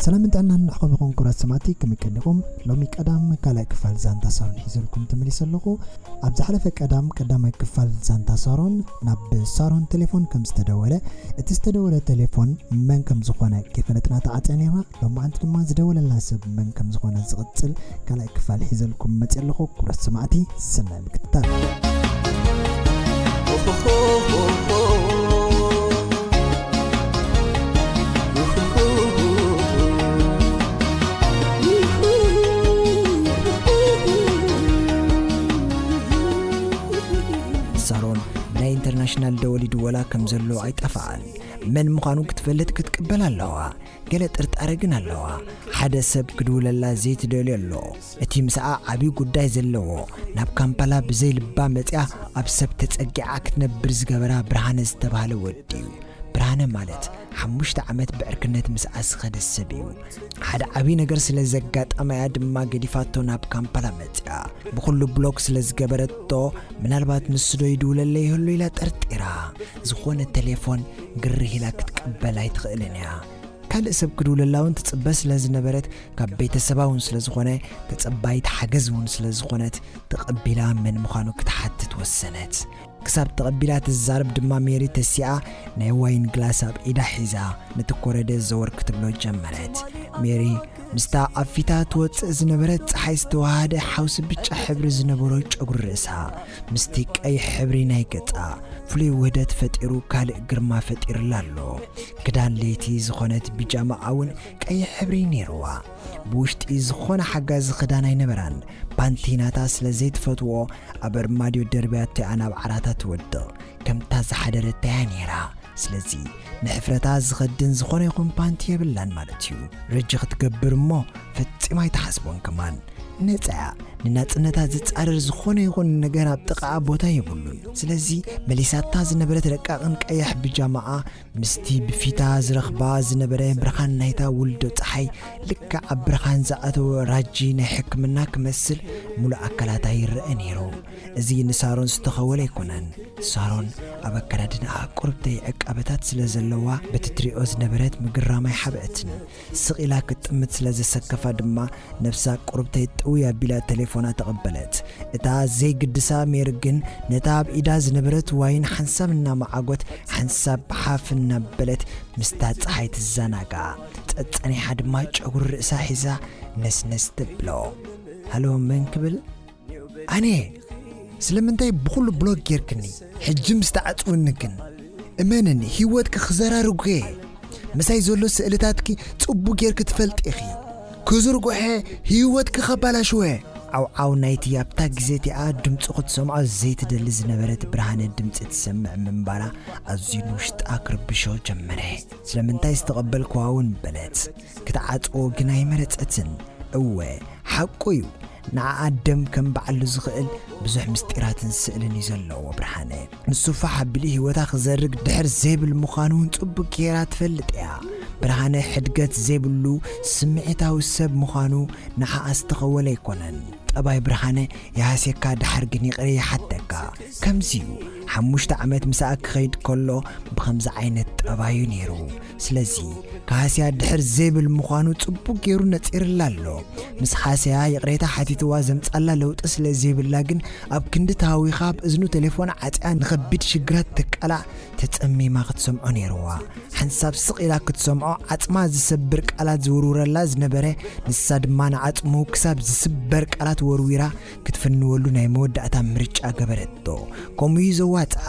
ሰላምን ጥዕናን ንዓኹም ይኹን ክብራት ሰማዕቲ ከመይ ቀኒኹም ሎሚ ቀዳም ካልኣይ ክፋል ዛንታ ሳሮን ሒዘልኩም ተመሊሰ ኣለኹ ኣብ ዝሓለፈ ቀዳም ቀዳማይ ክፋል ዛንታ ሳሮን ናብ ሳሮን ቴሌፎን ከም ዝተደወለ እቲ ዝተደወለ ቴሌፎን መን ከም ዝኾነ ከይፈለጥና ተዓፅያ ነይርና ሎማዓንቲ ድማ ዝደወለልና ሰብ መን ከም ዝኾነ ዝቕጽል ካልኣይ ክፋል ሒዘልኩም መጽየ ኣለኹ ክብረት ሰማዕቲ ሰናይ ምክትታል ሳሮን ናይ ኢንተርናሽናል ደወሊዱ ወላ ከም ዘሎ ኣይጠፍኣን መን ምዃኑ ክትፈልጥ ክትቅበል ኣለዋ ገለ ጥርጣረ ግን ኣለዋ። ሓደ ሰብ ክድውለላ ዘይትደልዮ ኣሎ። እቲ ምስኣ ዓብዪ ጉዳይ ዘለዎ፣ ናብ ካምፓላ ብዘይ ልባ መጺኣ ኣብ ሰብ ተጸጊዓ ክትነብር ዝገበራ ብርሃነ ዝተባህለ ወዲ'ዩ። ብርሃነ ማለት ሓሙሽተ ዓመት ብዕርክነት ምስኣ ዝኸደ ሰብ'ዩ። ሓደ ዓብዪ ነገር ስለ ዘጋጠማ'ያ ድማ ገዲፋቶ ናብ ካምፓላ መጺኣ። ብኹሉ ብሎክ ስለ ዝገበረቶ ምናልባት ንሱ'ዶ ይድውለለይ ይህሉ ኢላ ጠርጢራ፣ ዝኾነ ተሌፎን ግርህ ኢላ ክትቅበል ኣይትኽእልን እያ። ካልእ ሰብ ክድውለላ እውን ትጽበ ስለ ዝነበረት፣ ካብ ቤተሰባ እውን ስለ ዝኾነ፣ ተጸባይት ሓገዝ እውን ስለ ዝኾነት፣ ተቐቢላ መን ምዃኑ ክትሓትት ወሰነት። ክሳብ ተቐቢላ ትዛረብ ድማ ሜሪ ተሲኣ ናይ ዋይን ግላስ ኣብ ኢዳ ሒዛ ነቲ ኮረደ ዘወር ክትብሎ ጀመረት። ሜሪ ምስታ ኣብ ፊታ ትወጽእ ዝነበረት ጸሓይ ዝተወሃሃደ ሓውሲ ብጫ ሕብሪ ዝነበሮ ጨጉሪ ርእሳ ምስቲ ቀይሕ ሕብሪ ናይ ገጻ ፍሉይ ውህደት ፈጢሩ ካልእ ግርማ ፈጢርላ ኣሎ። ክዳን ለይቲ ዝኾነት ቢጃማኣ ውን ቀይሕ ሕብሪ ኔርዋ። ብውሽጢ ዝኾነ ሓጋዚ ክዳን ኣይነበራን። ፓንቲ ናታ ስለ ዘይትፈትዎ ኣብ ኣርማድዮ ደርብያቶ እያ ናብ ዓራታ ትወድቕ። ከምታ ዝሓደረታ እያ ኔራ። ስለዚ ንሕፍረታ ዝኸድን ዝኾነ ይኹን ፓንቲ የብላን ማለት እዩ ረጂ ክትገብር እሞ ፈጺማ ኣይተሓስቦን ከማን ነፃያ ንናጽነታ ዝጻረር ዝኾነ ይኹን ነገር ኣብ ጥቓኣ ቦታ የብሉን ስለዚ መሊሳታ ዝነበረት ረቃቕን ቀያሕ ብጃማኣ ምስቲ ብፊታ ዝረኽባ ዝነበረ ብርሃን ናይታ ውልዶ ፀሓይ ልክዕ ኣብ ብርሃን ዝኣተወ ራጂ ናይ ሕክምና ክመስል ሙሉእ ኣካላታ ይረአ ነይሩ እዚ ንሳሮን ዝተኸወለ ኣይኮነን። ሳሮን ኣብ ኣከዳድናኣ ቁርብተይ ዕቃበታት ስለ ዘለዋ በቲ ትሪኦ ዝነበረት ምግራም ኣይሓበአትን። ስቕ ኢላ ክትጥምት ስለ ዘሰከፋ ድማ ነብሳ ቁርብተይ ጥውይ ኣቢላ ተሌፎና ተቐበለት። እታ ዘይግድሳ ሜሪ ግን ነታ ኣብ ኢዳ ዝነበረት ዋይን ሓንሳብ እናመዓጎት ሓንሳብ ሓፍ እናበለት ምስታ ጸሓይ ትዘናጋዕ። ጸጸኒሓ ድማ ጨጉሪ ርእሳ ሒዛ ነስነስ ተብሎ። ሃሎ መን ክብል? ኣነ ስለምንታይ ብኹሉ ብሎክ ጌርክኒ ሕጂ ምስ ተዓጽውኒ ግን እመንኒ ህይወትኪ ክዘራርጎ እየ ምሳይ ዘሎ ስእልታትኪ ጽቡቅ ጌርኪ ትፈልጢ ኢኺ ክዝርጉሐ ህይወትኪ ከባላሽወ ዓውዓው ናይቲ ኣብታ ግዜ እቲኣ ድምፁ ክትሰምዖ ዘይትደሊ ዝነበረት ብርሃነ ድምፂ ትሰምዕ ምንባራ ኣዝዩ ንውሽጣ ክርብሾ ጀመረ ስለምንታይ ዝተቐበልክዋ እውን በለት ክትዓፅዎ ግን ኣይመረፀትን እወ ሓቁ እዩ ንዓኣ ደም ከምብዓሉ ዝኽእል ብዙሕ ምስጢራትን ስእልን እዩ ዘለዎ ብርሃነ። ንሱ ፋሕ ኣቢሉ ህይወታ ክዘርግ ድሕር ዘይብል ምዃኑ እውን ጽቡቅ ገይራ ትፈልጥ እያ። ብርሃነ ሕድገት ዘይብሉ ስምዒታዊ ሰብ ምዃኑ ንዓኣ ዝተኸወለ ኣይኮነን። ጠባይ ብርሃነ ይሃስየካ ድሓር ግን ይቅሬ ይሓተካ። ከምዚ እዩ ሓሙሽተ ዓመት ምሳኣ ክኸይድ ከሎ ብኸምዚ ዓይነት ጠባዩ ነይሩ። ስለዚ ካህስያ ድሕር ዘይብል ምዃኑ ጽቡቕ ገይሩ ነጺርላ ኣሎ። ምስ ሃስያ ይቕሬታ ሓቲትዋ ዘምጻላ ለውጢ ስለ ዘይብላ ግን ኣብ ክንዲ ተሃዊኻ ኣብ እዝኑ ቴሌፎን ዓጽያ ንኸቢድ ሽግራት ተቃላዕ ተጸሚማ ክትሰምዖ ነይርዋ። ሓንሳብ ስቕ ኢላ ክትሰምዖ ዓጽማ ዝሰብር ቃላት ዝውርውረላ ዝነበረ ንሳ ድማ ንዓጽሙ ክሳብ ዝስበር ቃላት ወርዊራ ክትፍንወሉ ናይ መወዳእታ ምርጫ ገበረቶ። ከምኡ'ዩ ዘዋጽኣ።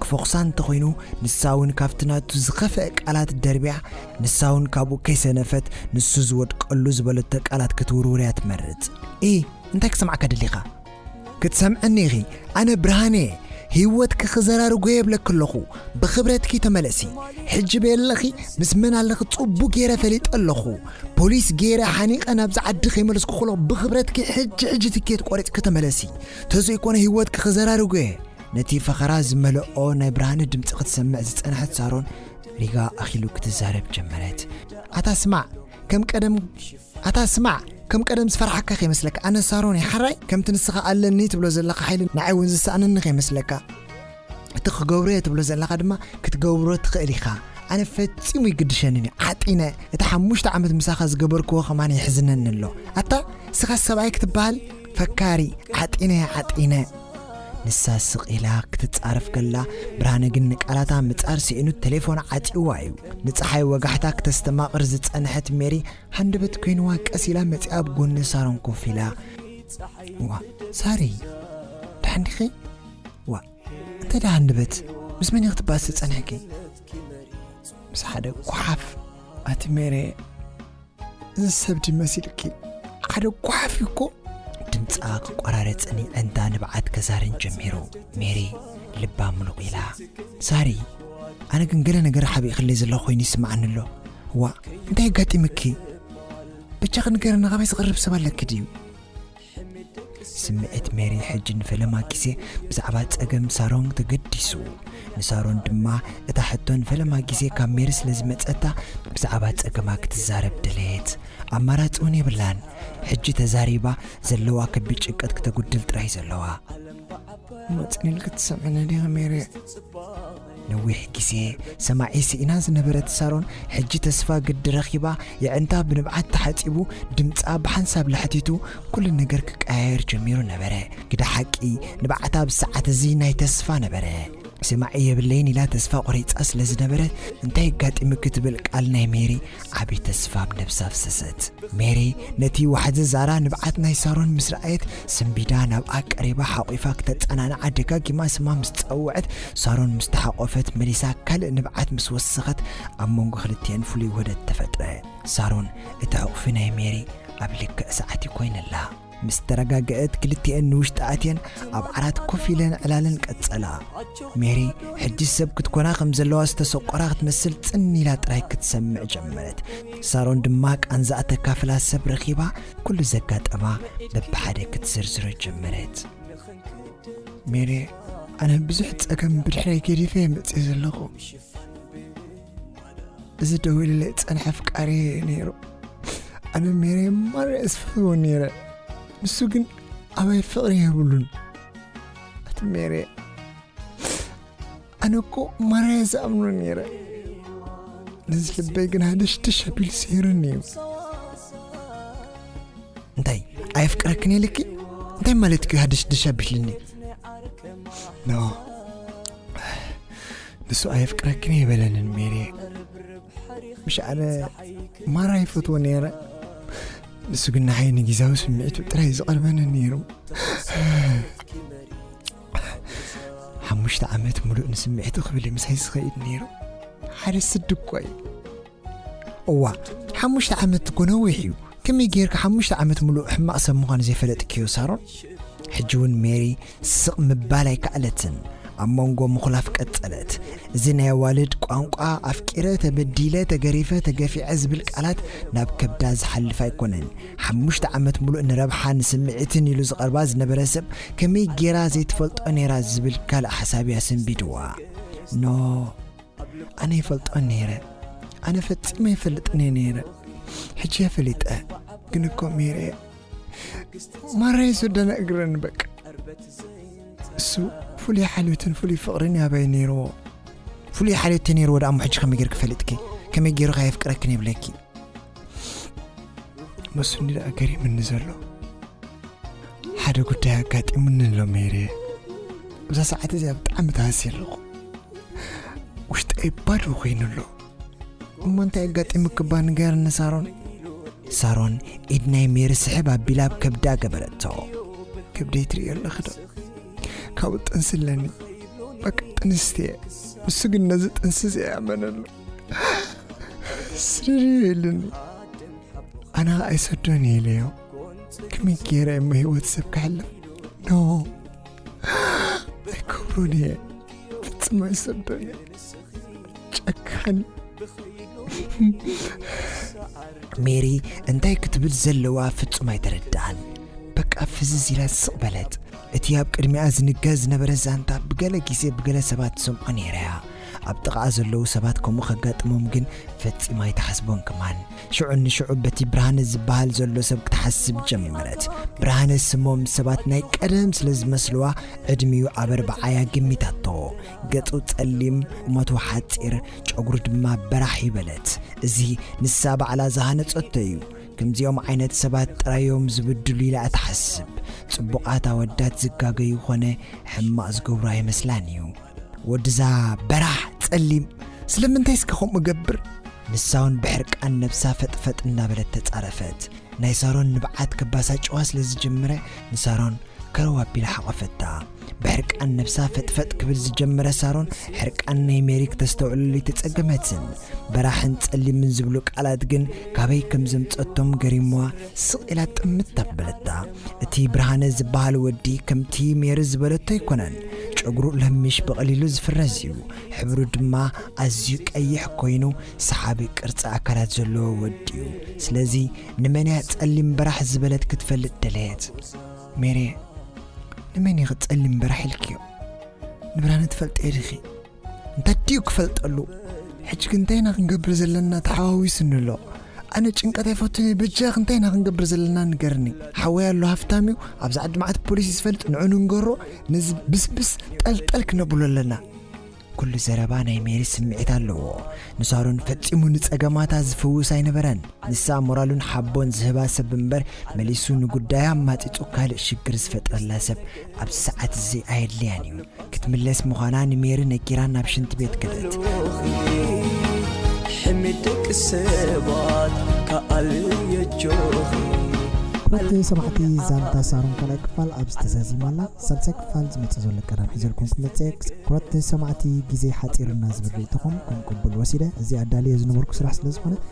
ክፎኽሳ እንተኾይኑ፣ ንሳ'ውን ካብቲ ናቱ ዝኸፍኣ ቃላት ደርብያ፣ ንሳ'ውን ካብኡ ከይሰነፈት ንሱ ዝወድቀሉ ዝበለቶ ቃላት ክትውርውር'ያ ትመርጽ። እሂ እንታይ ክሰምዓካ ደሊኻ? ክትሰምዕኒ ኢኺ። ኣነ ብርሃነ'የ። ህይወትኪ ክዘራርጎ የብለኪ ኣለኹ። ብኽብረትኪ ተመለሲ። ሕጂ በየለኺ ምስ መን ኣለኺ ጽቡቕ ገይረ ፈሊጠ ኣለኹ። ፖሊስ ገይረ ሓኒቀ ናብዚ ዓዲ ከይመለስኩ ከሎ ብክብረትኪ ሕጂ ሕጂ ትኬት ቆሪፅኪ ተመለሲ ተዘይኮነ ሂወትኪ ክዘራርጎ እየ ነቲ ፈኸራ ዝመለኦ ናይ ብርሃነ ድምፂ ክትሰምዕ ዝፀንሐት ሳሮን ሪጋ ኣኪሉ ክትዛረብ ጀመረት ኣታ ስማዕ ከም ቀደም ኣታ ስማዕ ከም ቀደም ዝፈርሓካ ከይመስለካ ኣነ ሳሮን እየ ሓራይ ከምቲ ንስኻ ኣለኒ ትብሎ ዘለካ ሓይሊ ንዓይ እውን ዝሰኣነኒ ከይመስለካ እቲ ክገብሮ'የ ትብሎ ዘለኻ ድማ ክትገብሮ ትኽእል ኢኻ። ኣነ ፈጺሙ ኣይግድሸንን'ዩ። ዓጢነ እቲ ሓሙሽተ ዓመት ምሳኻ ዝገበርክዎ ከማን የሕዝነኒ ኣሎ። ኣታ እስኻስ ሰብኣይ ክትበሃል ፈካሪ ዓጢነ ዓጢነ። ንሳ ስቕ ኢላ ክትጻረፍ ከላ ብርሃነ ግን ንቃላታ ምጻር ስኢኑ ቴሌፎን ዓጺዋ እዩ። ንጸሓይ ወጋሕታ ክተስተማቕር ዝጸንሐት ሜሪ ሃንደበት ኮይንዋ ቀስ ኢላ መጺኣ ኣብ ጎኒ ሳሮን ኮፍ ኢላ ዋ ሳሪ ደሓን ዲኺ? ዋእ እንታይ ደኣ ሃንደበት ምስ መን ኢኺ ትባእሲ ጸኒሕኪ ምስ ሓደ ጓሓፍ ኣቲ ሜሬ እዚ ሰብ ድዩ መሲልኪ ሓደ ጓሓፍ እዩ እኮ ድምጻ ክቆራረጽን ይዕንታ ንብዓት ከዛርን ጀሚሩ ሜሪ ልባ ምሉቕ ኢላ ሳሪ ኣነ ግን ገለ ነገር ሓቢእክለይ ዘሎ ኮይኑ ይስምዓኒ ኣሎ ዋእ እንታይ ኣጋጢምኪ ብቻኺ ንገርና ካበይ ዝቕርብ ሰብ ኣለኪ ድዩ ስምዒት ሜሪ ሕጂ ንፈለማ ግዜ ብዛዕባ ጸገም ሳሮን ተገዲሱ። ንሳሮን ድማ እታ ሕቶ ንፈለማ ግዜ ካብ ሜሪ ስለ ዝመጸታ ብዛዕባ ጸገማ ክትዛረብ ደለየት። ኣማራጺ እውን የብላን። ሕጂ ተዛሪባ ዘለዋ ከቢድ ጭንቀት ክተጉድል ጥራይ ዘለዋ። መጽኒን ክትሰምዕኒ ዲኺ ሜሪ? ነዊሕ ግዜ ሰማዒ ስኢና ዝነበረት ሳሮን ሕጂ ተስፋ ግዲ ረኺባ የዕንታ ብንብዓት ተሓጺቡ ድምጻ ብሓንሳብ ላሕቲቱ ኩሉ ነገር ክቀያየር ጀሚሩ ነበረ ግደ ሓቂ ንብዓታ ኣብዚ ሰዓት እዚ ናይ ተስፋ ነበረ ስማዒ የብለይን ኢላ ተስፋ ቆሪጻ ስለ ዝነበረት እንታይ ኣጋጢሙ ክትብል ቃል ናይ ሜሪ ዓቢ ተስፋ ኣብ ነብሳ ኣፍሰሰት ሜሪ ነቲ ዋሕዚ ዛራ ንብዓት ናይ ሳሮን ምስ ረኣየት ስንቢዳ ናብኣ ቀሪባ ሓቝፋ ክተጸናንዓ ደጋጊማ ስማ ምስ ጸውዐት፣ ሳሮን ምስ ተሓቖፈት መሊሳ ካልእ ንብዓት ምስ ወሰኸት፣ ኣብ መንጎ ክልቲኤን ፍሉይ ውህደት ተፈጥረ። ሳሮን እቲ ሕቝፊ ናይ ሜሪ ኣብ ልክዕ ሰዓት'ዩ ኮይንላ። ምስ ተረጋገእት ክልቲኤን ንውሽጢ ኣትየን ኣብ ዓራት ኮፍ ኢለን ዕላለን ቀጸላ። ሜሪ ሕጂ ሰብ ክትኮና ከም ዘለዋ ዝተሰቆራ ክትመስል ጽን ኢላ ጥራይ ክትሰምዕ ጀመረት። ሳሮን ድማ ቃንዛኣ ተካፍላ ሰብ ረኺባ ኩሉ ዘጋጠማ በብሓደ ክትዝርዝሮ ጀመረት። ሜሪ ኣነ ብዙሕ ጸገም ብድሕረይ ገዲፈ እየ መጽእ ዘለኹ እዚ ደው ኢለ ጸንሐ ፍቃሪ ነይሩ ኣነ ሜሪ ማር እስፍሕዎ ነይረ ንሱ ግን ኣባይ ፍቕሪ የብሉን ኣቲ ሜሪ ኣነ እኮ ማርያ ዝኣምኖ ነይረ ነዚ ልበይ ግን ሃደሽደሽ ኣቢሉ ስሂሩኒ እዩ እንታይ ኣየፍቅረክን የልኪ እንታይ ማለት እዩ ሃደሽደሽ ኣቢልኒ ኖ ንሱ ኣየፍቅረክን የበለንን ሜሬ ምሽ ኣነ ማራ ይፈትዎ ነይረ ንሱ ግን ንዓይ ንግዛዊ ስምዒቱ ጥራይ ዝቐርበኒ ነይሩ ሓሙሽተ ዓመት ሙሉእ ንስምዒት ክብል ምስ ሒዝ ዝኸይድ ነይሩ ሓደ ስዲ እኳ እዩ እዋ ሓሙሽተ ዓመት እኮ ነዊሕ እዩ ከመይ ጌርካ ሓሙሽተ ዓመት ሙሉእ ሕማቕ ሰብ ምዃኑ ዘይፈለጥክዮ ሳሮን ሕጂ እውን ሜሪ ስቕ ምባል ኣይከኣለትን ኣብ መንጎ ምኹላፍ ቀጸለት እዚ ናይ ኣዋልድ ቋንቋ ኣፍቂረ ተበዲለ ተገሪፈ ተገፊዐ ዝብል ቃላት ናብ ከብዳ ዝሓልፍ ኣይኮነን ሓሙሽተ ዓመት ምሉእ ንረብሓን ስምዒትን ኢሉ ዝቐርባ ዝነበረ ሰብ ከመይ ጌራ ዘይትፈልጦ ነይራ ዝብል ካልእ ሓሳብ እያ ሰንቢድዋ። ኖ ኣነ ይፈልጦ ነይረ፣ ኣነ ፈጺመ ይፈልጥኒ ነይረ፣ ሕጂ እየ ፈሊጠ። ግን እኮ ሜሬ ማራይ ዝደነ እግረን በቃ እሱ ፍሉይ ሓልዮትን ፍሉይ ፍቕርን ያባይ ነይርዎ ፍሉይ ሓልዮት ነይርዎ ደኣ እሞ ሕጂ ከመይ ጌርኪ ፈሊጥኪ ከመይ ጌሩ ከየፍቅረክን የብለኪ መስኒ ደኣ ገሪምኒ ዘሎ ሓደ ጉዳይ ኣጋጢሙኒ ኣሎ ሜሬ እዛ ሰዓት እዚኣ ብጣዕሚ ተሃሲ ኣለኹ ውሽጠይ ባዶ ኮይኑ ኣሎ እሞ እንታይ ኣጋጢሙኪ እባ ንገርኒ ሳሮን ሳሮን ኢድ ናይ ሜሪ ስሕብ ኣቢላ ኣብ ከብዳ ገበረቶ ከብደይ ትርእዮ ኣለኺ ዶ ካብኡ ጥንሲ ኣለኒ በቃ ጥንስቲ እየ ንሱ ግን ነዚ ጥንሲ እዚ ኣይኣመነሉ ስርርይ ኢሉኒ ኣነ ከዓ ኣይሰዶን እየ ኢለዮ ከመይ ገይረ እሞ ሂወት ሰብ ክሕልፍ ኖ ኣይከብሮን እየ ፍፅም ኣይሰዶን እየ ጨካን ሜሪ እንታይ ክትብል ዘለዋ ፍጹም ኣይተረድኣን በቃ ፍዝዝ ኢላ ስቕ በለት እቲ ኣብ ቅድሚኣ ዝንገር ዝነበረ ዛንታ ብገለ ግዜ ብገለ ሰባት ትሰምዖ ነይራ እያ ኣብ ጥቓኣ ዘለዉ ሰባት ከምኡ ከጋጥሞም ግን ፈጺማ ኣይትሓስቦን ከማን። ሽዑ ንሽዑ በቲ ብርሃነ ዝበሃል ዘሎ ሰብ ክትሓስብ ጀመረት። ብርሃነ ስሞም ሰባት ናይ ቀደም ስለ ዝመስልዋ ዕድሚኡ ኣብ ኣርብዓ'ያ ገሚታቶ። ገጹ ጸሊም፣ ቁመቱ ሓጺር፣ ጨጉሩ ድማ በራሕ እዩ በለት። እዚ ንሳ ባዕላ ዝሃነጸቶ እዩ። ከምዚኦም ዓይነት ሰባት ጥራዮም ዝብድሉ ኢላ'ያ ትሓስብ። ጽቡቓት ኣወዳት ዝጋገዩ ኮነ ሕማቕ ዝገብሩ ኣይመስላን እዩ። ወድዛ በራሕ ጸሊም ስለምንታይ እስከ ከምኡ ገብር ንሳውን ብሕርቃን ነብሳ ፈጥፈጥ እናበለት ተጻረፈት ናይ ሳሮን ንብዓት ከባሳጭዋ ስለ ዝጀመረ ንሳሮን ከረው ኣቢላ ሓቐፈታ ብሕርቃን ነብሳ ፈጥፈጥ ክብል ዝጀመረ ሳሮን ሕርቃን ናይ ሜሪ ክተስተውዕለሉ ኣይተጸገመትን በራሕን ጸሊምን ዝብሉ ቃላት ግን ካበይ ከም ዘምጸቶም ገሪምዋ ስቕ ኢላ ጥምት ኣበለታ። እቲ ብርሃነ ዝበሃል ወዲ ከምቲ ሜሪ ዝበለቶ ኣይኮነን። ጨጉሩ ለሚሽ ብቐሊሉ ዝፍረዝ እዩ። ሕብሩ ድማ ኣዝዩ ቀይሕ ኮይኑ ሰሓቢ ቅርጺ ኣካላት ዘለዎ ወዲ እዩ። ስለዚ ንመን እያ ጸሊም በራሕ ዝበለት ክትፈልጥ ደለየት። ሜሪየ፣ ንመን ኢኺ ጸሊም በራሕ ኢልክዮ? ንብርሃነ ትፈልጥዮ ዲኺ? እንተድዩ ክፈልጠሉ ሕጂ ግን እንታይ ኢና ክንገብር ዘለና ተሓዋዊስኒ ኣሎ ኣነ ጭንቀት ኣይፈቱን እየ በጃኽ እንታይ ኢና ክንገብር ዘለና ንገርኒ ሓወይ ኣሎ ሃፍታም እዩ ኣብዚ ዓዲ መዓት ፖሊሲ ዝፈልጥ ንዑ ንንገሮ ነዚ ብስብስ ጠልጠል ክነብሎ ኣለና ኩሉ ዘረባ ናይ ሜሪ ስምዒት ኣለዎ ንሳሮን ፈጺሙ ንጸገማታ ዝፍውስ ኣይነበረን ንሳ ሞራሉን ሓቦን ዝህባ ሰብ እምበር መሊሱ ንጉዳያ ማጢጡ ካልእ ሽግር ዝፈጥረላ ሰብ ኣብዚ ሰዓት እዚ ኣየድልያን እዩ ክትምለስ ምዃና ንሜሪ ነጊራ ናብ ሽንቲ ቤት ከደት። ሕሜት ደቂ ሰባት ከኣልየጆኺ ክብርቲ ሰማዕቲ ዛንታ ሳሮን ካልኣይ ክፋል ኣብዚ ተዛዚማ ኣላ ሳልሳይ ክፋል ዝመጽእ ዘሎ ቀዳም ሒዘልኩም ክመጽእ እየ ክብርቲ ሰማዕቲ ግዜ ሓጺሩና ዝብል ርእይቶኹም ከም ቅቡል ወሲደ እዚ ኣዳልየ ዝነበርኩ ስራሕ ስለ ዝኾነ